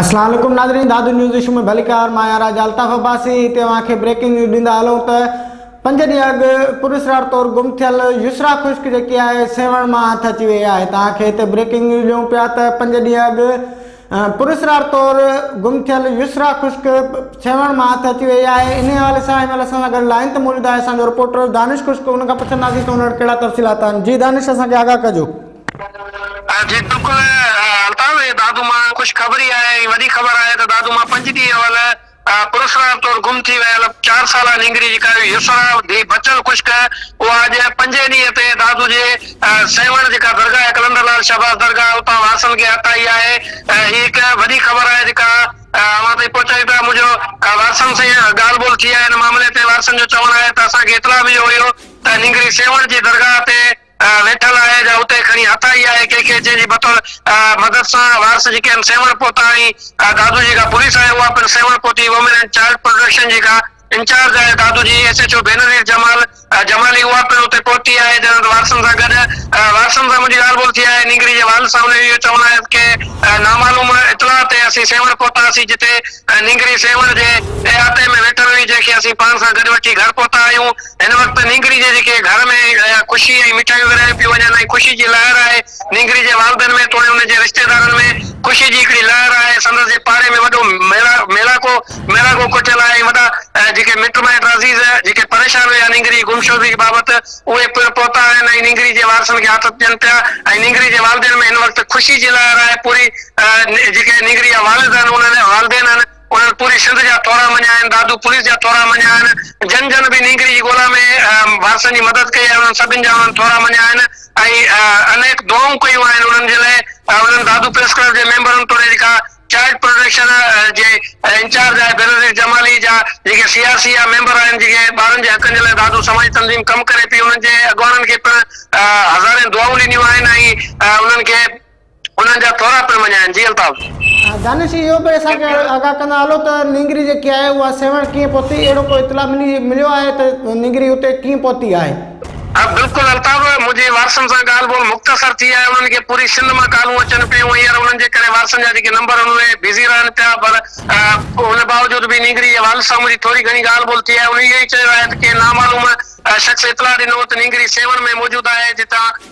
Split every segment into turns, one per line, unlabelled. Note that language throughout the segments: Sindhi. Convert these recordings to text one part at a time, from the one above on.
اسلام عليڪم ناظرين دادو نيوز ايشو ۾ ڀليڪار مان يارا جالطاف عباسي هتي اوهان کي بريڪنگ نيوز ڏيندا هلون ته پنج ڏينهن اڳ پراسرار طور گم ٿيل يسرا خشڪ جيڪي آهي سيوهڻ مان هٿ اچي وئي آهي توهان کي هتي بريڪنگ نيوز ڏيون پيا ته پنج ڏينهن اڳ پراسرار طور گم ٿيل يسرا خشڪ سيوهڻ مان هٿ اچي وئي آهي انهي حوالي سان هن مهل اسان سان گڏ لائين تي موجود آهي اسان جو رپورٽر دانش خشڪ ان کان پڇنداسين ته ان وٽ ڪهڙا تفصيلات آهن جي دانش اسان کي آگاهه ڪجو. جي بلڪل الطاف
دادو مان خوشخبري آهي ۽ وڏي خبر آهي ته دادو مان پنج ڏينهن اول پرسرار طور گم ٿي ويل چار سالا نينگري جي ڪاوي يسرا ڌي بچل خشڪ اها اڄ پنجين ڏينهن تي دادو جي سيوهڻ جيڪا درگاهه قلندر لال شهباز درگاهه اتان وارثن کي هٿ آئي آهي هي هڪ وڏي خبر آهي جيڪا اوهان تائين پهچائي پيا منهنجو وارثن سان ڳالهه ٻولهه ٿي آهي ان معاملي تي وارثن جو چوڻ آهي ته اسان کي اطلاع مليو هيو ته نينگري سيوهڻ جي درگاهه تي ويٺل آهي جا اتي کڻي هٿ آئي آهي ڪنهن کي جنهن جي بطور مدد سان وارث جيڪي آهن سيوهڻ پهتا آهي دادو جيڪا پوليس آهي اها پڻ سيوهڻ پهتي وومين اينڊ چائلڊ پروٽيڪشن جيڪا انچارج آهي دادو جي S H O ڀينرير Jamal Jamali اها پڻ اتي پهتي آهي جنهن وارثن سان گڏ وارثن سان منهنجي ڳالهه ٻولهه ٿي آهي نينگري جي والد صاحب ني اهو چوڻ آهي ڪي نامعلوم اطلاع تي اسين سيوهڻ پهتا هئاسين جتي نينگري سيوهڻ جي احاطي ۾ ويٺل هئي جنهن کي اسين پاڻ سان گڏ وٺي گهر پهتا آهيون هن وقت نينگري جي جيڪي گهر ۾ خوشي ۽ مٺايون ورهايون پيون وڃن ۽ خوشي جي لهر آهي. نينگري جي والدن ۾ توڻي ان جي رشتيدارن ۾ خوشي جي هڪڙي لهر آهي. سندس جي پاڙي ۾ وڏو ميڙاڪو ميڙاڪو ڪوٺيل آهي ۽ وڏا جيڪي مٽ مائٽ عزيز جيڪي پريشان هيا نينگري جي گمشدگي بابت اهي پڻ پهتا آهن ۽ نينگري جي وارثن کي آٿت ڏين پيا ۽ نينگري جي والدين ۾ هن وقت خوشي جي لهر آهي. پوري جيڪي نينگري جا والد آهن انهن والدين آهن. انهن پوري سنڌ جا ٿورا مڃيا آهن، دادو پوليس جا ٿورا مڃيا آهن، جن جن به نينگري جي ڳولا ۾ وارثن جي مدد ڪئي آهي، انهن سڀن جا انهن ٿورا مڃيا آهن ۽ انيڪ دعائون ڪيون آهن انهن جي لاء. انهن دادو پريس ڪلب جي ميمبرن توڙي جيڪا چائلڊ پروٽيڪشن جي انچارج آهي بينظير جمالي جا جيڪي سي آر سي جا ميمبر آهن، جيڪي ٻارن جي حقن جي لاء دادو سماجي تنظيم ڪم ڪري پئي، انهن جي اڳواڻن کي پڻ هزارين دعائون ڏنيون آهن ۽ انهن کي انهن جا ٿورا پڻ مڃايائين. جي الطاف. دانش اهو به اسان
کي آگاهه ڪندا هلو ته نينگري جيڪي آهي اها سيوهڻ ڪيئن پهتي، اهڙو ڪو اطلاع مليو آهي ته نينگري اتي ڪيئن پهتي آهي؟ ها بلڪل
الطاف، منهنجي وارثن سان ڳالهه ٻولهه مختصر ٿي آهي، انهن کي پوري سنڌ مان ڪالون اچن پيون، هينئر انهن جي ڪري وارثن جا جيڪي نمبر آهن اهي بزي رهن پيا، پر ان باوجود به نينگري جي والد سان منهنجي ٿوري گهڻي ڳالهه ٻولهه ٿي آهي، انهن اهو ئي چيو آهي ته ڪنهن نامعلوم شخص اطلاع ڏنو هو ته نينگري سيوهڻ ۾ موجود آهي، جتان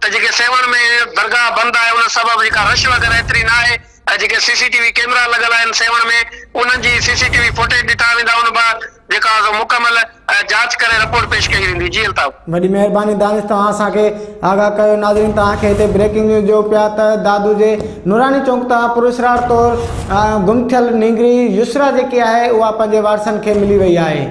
ته جيڪي سيوهڻ ۾ درگاهه بند آهي ان سبب جيڪا رش وغيره ايتري نه آهي ۽ جيڪي C C T V camera لڳل آهن سيوهڻ ۾ انهن جي C C T V footage ڏٺا ويندا ان بعد جيڪا سو مڪمل جاچ ڪري رپورٽ پيش ڪئي ويندي جي الطاف. وڏي مهرباني دانش
توهان اسان کي آگاهه ڪيو ناظرين توهان کي هتي بريڪنگ نيوز ڏيون پيا ته دادو جي نوراني چونڪ تان پر اسرار طور گم ٿيل نينگري يسرا جيڪي آهي اها پنهنجي وارثن کي ملي وئي آهي.